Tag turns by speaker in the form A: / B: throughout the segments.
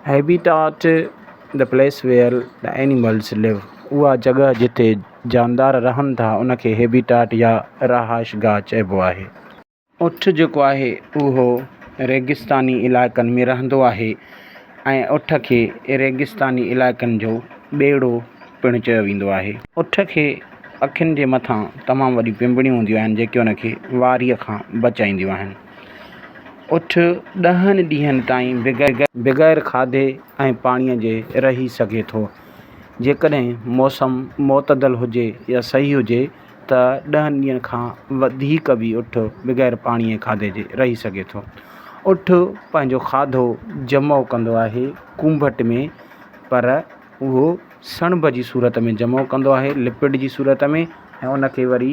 A: Habitat, The place where the animals live، اها جڳهه جتي جاندار رهن ٿا ان کي هيبيٽاٽ يا رهائشگاهه چئبو آهي. اٺ جيڪو آهي اهو ريگستاني علائقن ۾ رهندو آهي ۽ اٺ کي ريگستاني علائقن جو ٻيڙو پڻ چيو ويندو آهي. اٺ کي اکين جي مٿان تمام وڏيون پنبڻيون هونديون آهن جيڪي ان کي واريء کان بچائينديون آهن. اٺ ڏهن ڏينهن تائين بغير کاڌي ۽ پاڻي جي رهي سگهي ٿو. جيڪڏهن موسم معتدل هجي يا صحيح هجي ته ڏهن ڏينهن کان وڌيڪ به اٺ بغير پاڻي ۽ کاڌي جي رهي سگهي ٿو. اٺ پنهنجو کاڌو جمع ڪندو آهي ڪونڀٽ ۾ پر اهو سڻڀ جي صورت ۾ جمع ڪندو آهي لپڊ جي صورت ۾ ۽ ان کي وري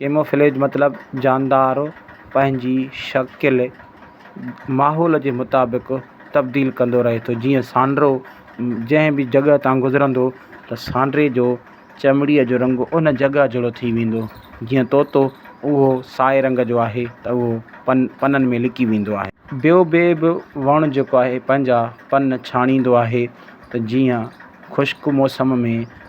A: ڪيموفليج مطلب جاندار پنهنجي شڪل ماحول جي مطابق تبديل ڪندو رهي ٿو جيئن سانڊرو جنهن به جڳهه تان گذرندو ته سانڊري جو چمڙي جو رنگ ان جڳهه جهڙو ٿي ويندو جيئن طوطو اهو سائي رنگ جو آهي ته اهو پن پنن ۾ لڪي ويندو آهي. ٻيو ٻي به وڻ جيڪو آهي پنهنجا پن ڇاڻيندو آهي ته جيئن خشڪ موسم ۾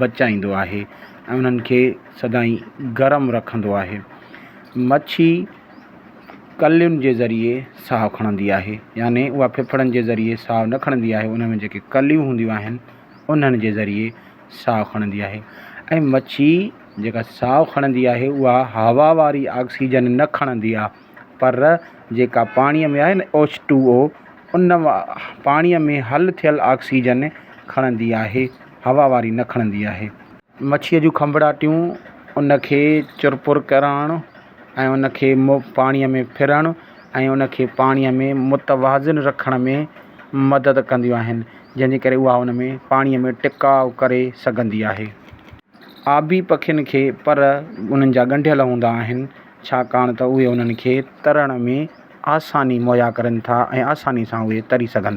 A: بچائيندو آهي ۽ انهن کي سدائين گرم رکندو آهي. مڇي ڪلين جي ذريعي ساهه کڻندي آهي يعني اها ڦڦڙن جي ذريعي ساهه نه کڻندي آهي ان ۾ جيڪي ڪليون هونديون آهن انهن جي ذريعي ساهه کڻندي آهي ۽ مڇي جيڪا ساهه کڻندي آهي اها هوا واري آڪسيجن نه کڻندي آهي پر جيڪا پاڻيء ۾ آهي نه ايڇ ٽو او ان پاڻيء ۾ حل ٿيل آڪسيجن کڻندي آهي هوا واري نه کڻندي آهي. مڇيء جون کنڀڙاٽيون ان کي چرپر ڪرڻ ۽ ان کي پاڻيء ۾ ڦرڻ ۽ ان کي پاڻيء ۾ متوازن رکڻ ۾ مدد ڪنديون آهن جنهن جي ڪري اها ان ۾ پاڻيء ۾ ٽڪاء ڪري سگهندي آهي. آبي پکين کي پر انهن جا ڳنڍيل هوندا آهن ڇاڪاڻ ته اهي انهن کي ترڻ ۾ آساني مهيا ڪرين ٿا ۽ آساني سان اهي تري سگهن ٿا.